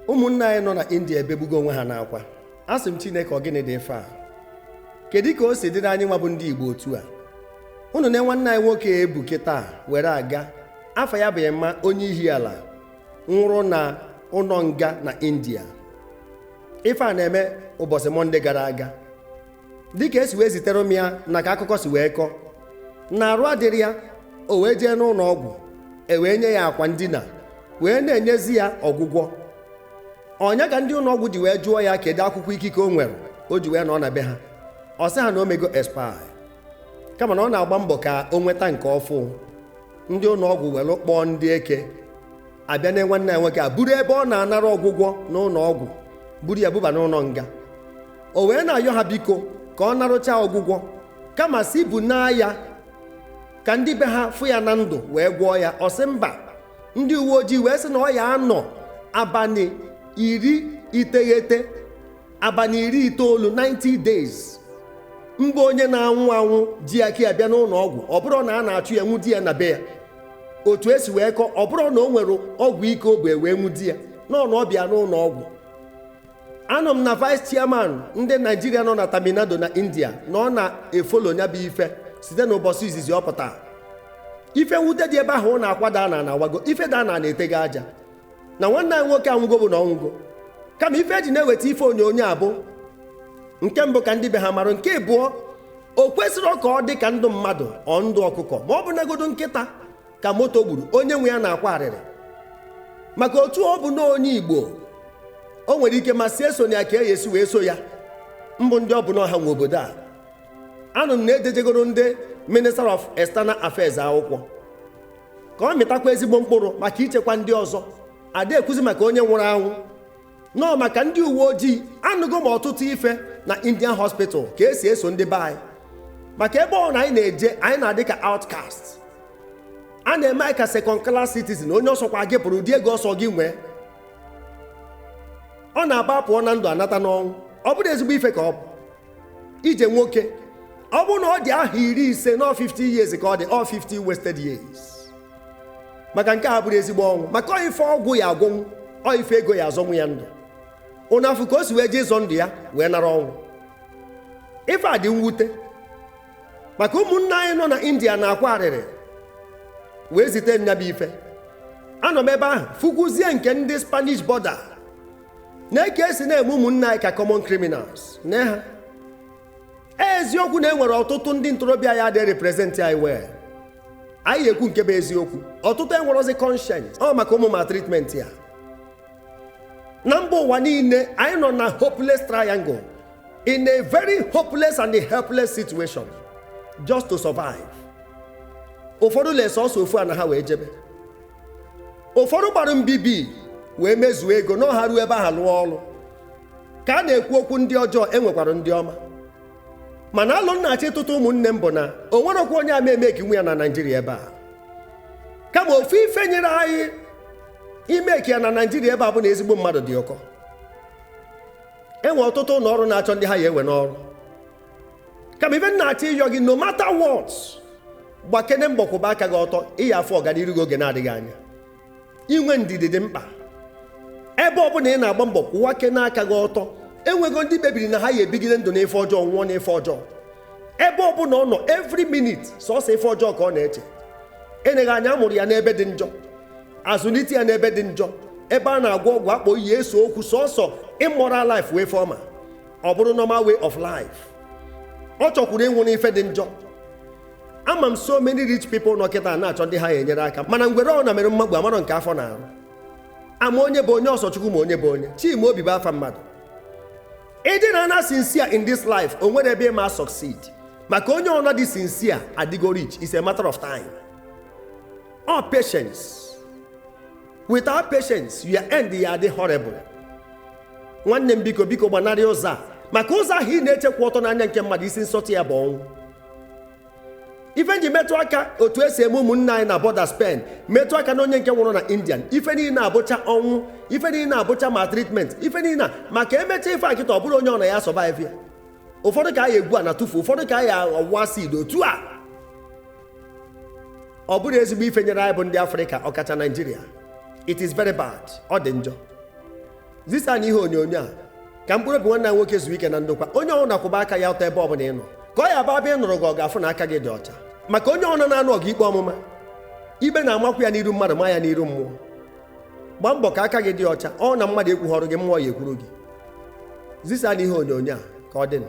ụmụnna anyị nọ na india ebegbugo onwe ha n'akwa asị m chineke ọ gịnị dị ife a kedu ka o si dịrị anyị nwa bụ ndị igbo otu a unu nee nwanne anyị nwoke e bu kịta were aga afa ya bụ emma onye ihiala nwụrụ na ụnọ nga na india ife a na-eme ụbọsị mọnde gara aga dịka e si wee zitere m ya na ka akụkọ si wee kọọ na arụ adịrọ ya o wee jee n'ụnọ ọgwụ e wee nye ya akwa ndina wee na-enyezi ya ọgwụgwọ ọ nya ka ndị ụnọ ọgwụ ji wee jụọ ya kedu akwụkwọ ikike o nwere o ji wee nọ na be ha ọ sị ha na o mego expire kama na ọ na-agba mbọ ka o nweta nke ọfụ ndị ụnọ ọgwụ were kpọọ ndị eke abịa nee nwanne ya nwoke a buru ebe ọ na-anara ọgwụgwọ n'ụnọ ọgwụ buru ya buba n'ụnọ nga o wee na-ayọ ha biko ka ọ narụcha ọgwụgwọ kama sị bunaa ya ka ndị be ha fụ ya na ndụ wee gwọọ ya ọ sị mba ndị uwe ojii wee sị na ọ ya anọ abanị iri iteghete abanị iri itoolu 90 days mbụ onye na-anwụ anwụ ji aka ya bịa n'ụnọ ọgwụ ọ bụrụ na a na-achụ ya nwụdi ya na be ya otu e si wee kọọ ọ bụrụ na o nwere ọgwụ ike o bu e wee nwụdi ya na ọ na ọ bịa n'ụnọ ọgwụ anụ m na vice chairman ndị naijiria nọ na tamil nadu na india na ọ na-efolo nya bụ ife site n'ụbọsị izizi ọ pụta ife nwute dị ebe ahụ ọ na akwa da ana na awago ife da ana na etego aja na nwanne anyị nwoke anwụgo bụ na ọ nwụgo kama ife e ji na-eweta ife onyonyo a bụ nke mbụ ka ndị be ha mara nke abụọ o kwesirọ ka ọ dị ka ndụ mmadụ ọ ndụ ọkụkọ ma ọ bụnagodu nkịta ka moto gburu onye nwe ya na-akwa arịrị maka otu ọ bụ na onye igbo o nwere ike ma si eso na ya ka e si wee eso ya mbụ ndị ọ bụ na ọ ha nwe obodo a anụ m na e dejegoro ndị minister of external affairs akwụkwọ ka ọ mịtakwa ezigbo mkpụrụ maka ichekwa ndị ọzọ a da ekwuzi maka onye nwụrụ anwụ na ọ maka ndị uwe ojii anụgo m ọtụtụ ife na indian hospital ka e si eso ndị be anyị maka ebe ọbụna anyị na-eje anyị na-adị ka outcast a na-eme anyị ka second class citizen onye ọ sọkwa gị bụrụ ụdị ego ọ sọ gị nwee ọ na-abụ a pụọ na ndụ a nata n'ọnwụ ọ bụrọ ezigbo ife ka ọ bụ ije nwoke ọ bụrụ na ọ dị ahọ iri ise na 50 years ka ọ dị ọ 50 wasted years maka nke a abụrọ ezigbo ọnwụ maka ọ ife ọgwụ ya agwọnwu ọ ife ego ya azọnwu ya ndụ unu afụ ka o si wee jee ịzọ ndụ ya wee nara ọnwụ ife a dị mwute maka ụmụnna anyị nọ na india na-akwa arịrị wee zite nya bụ ife anọ m ebe ahụ fụkwuzie nke ndị spanish border nee ka e si na-eme ụmụnna anyị ka common criminals na ha eziokwu na e nwere ọtụtụ ndị ntorobịa ya adị represent anyị well anyị ekwu nke bụ eziokwu ọtụtụ enwerozi conscience ọ maka ụmụ maltreatment a na mba ụwa niile anyị nọ na hopeless triangle in a very hopeless and a helpless situation just to survive ụfọdụ lee sọsọ ofu ana ha wee jebe ụfọdụ gbara mbibi wee mezuo ego na ọ ha ruo ebe aha lụọ ọrụ ka a na-ekwu okwu ndị ọjọọ e nwekwara ndị ọma mana alo m na-achọ ịtụtụ ụmụnne m bụ na o nwerọkwa onye ama e-make nwu ya na naijiria ebe a kama ofu ife nyere anyị ị make ya na naijiria ebe a bụ na ezigbo mmadụ dị ụkọ e nwe ọtụtụ ụlọ ọrụ na-achọ ndị ha ya ewe n'ọrụ kama ife m na-achọ ịyọ gị no matter what gbakene mbọ kwụba aka gị ọtọ ị ya-afụ ọganiru gị oge na-adịghị anya inwe ndidi dị mkpa ebe ọbụla ị na-agba mbọ kwụwakene aka gị ọtọ enwego ndị kpebiri na ha ya ebigide ndụ n'ife ọjọọ nwụọ n'ife ọjọọ ebe ọbụla ọ nọ every minute sọsọ ife ọjọọ ka ọ na-eche eneghị anya a mụrụ ya n'ebe dị njọ a zụlite ya n'ebe dị njọ ebe a na-agwọ ọgwụ akpọ iyi ese okwu sọsọ immoral life wee form ya ọ bụrụ normal way of life ọ chọkwuru ịnwụ n'ife dị njọ ama m so many rich people nọ kịta na-achọ ndị ha ya enyere aka mana ngwere ọna mere mmakpu amarọ nke afọ na-arụ ama onye bụ onye ọ sọ chukwu ma onye bụ onye chimaobi bụ afa mmadụ ịdị na ana sincere in this life o nwerọ ebe ị ma succeed maka onye ọna dị sincere adịgo rich is a matter of time ọ patience without patience your end ya-adị horrible nwanne m biko biko gbanarị ụzọ a maka ụzọ ahụ ị na-eche kwụ ọtọ n'anya nke mmadụ isi nsọtụ ya bụ ọnwụ ife m ji metụ aka otu e si eme ụmụnna anyị na border spain metụ aka na onye nke nwụrụ na indian ife niile a bụcha ọnwụ ife niile a bụcha maltreatment ife niile a maka e mecha ife a kịta ọ bụrọ onye ọna ya survive ya ụfọdụ ka a ya-egwu ana tụfu ụfọdụ ka a ya-awụ acid otu a ọ bụrọ ezigbo ife nyere anyị bụ ndị afrịka ọkacha naijiria it is very bad ọ dị njọ zisaanụ ihe onyonyo a ka mkpụrụ obi nwanne nwoke zuo ike na ndokwa onye ọbụna kwụba aka gị ọtọ ebe ọ bụla ị nọ ka ọ ya-abụ a bịa ịnụrụ gị ọgụ a fụ na aka gị dị ọcha maka onye ọbụna na-anụ ọgụ ikpe ọmụma ikpe na-amakwu ya n'iru mmadụ ma ya n'iru mmụọ gbaa mbọ ka aka gị dị ọcha ọ na mmadụ ekwughọrọ gị mmụọ ya ekwuru gị zisaanụ ihe onyonyo a ka ọ dị na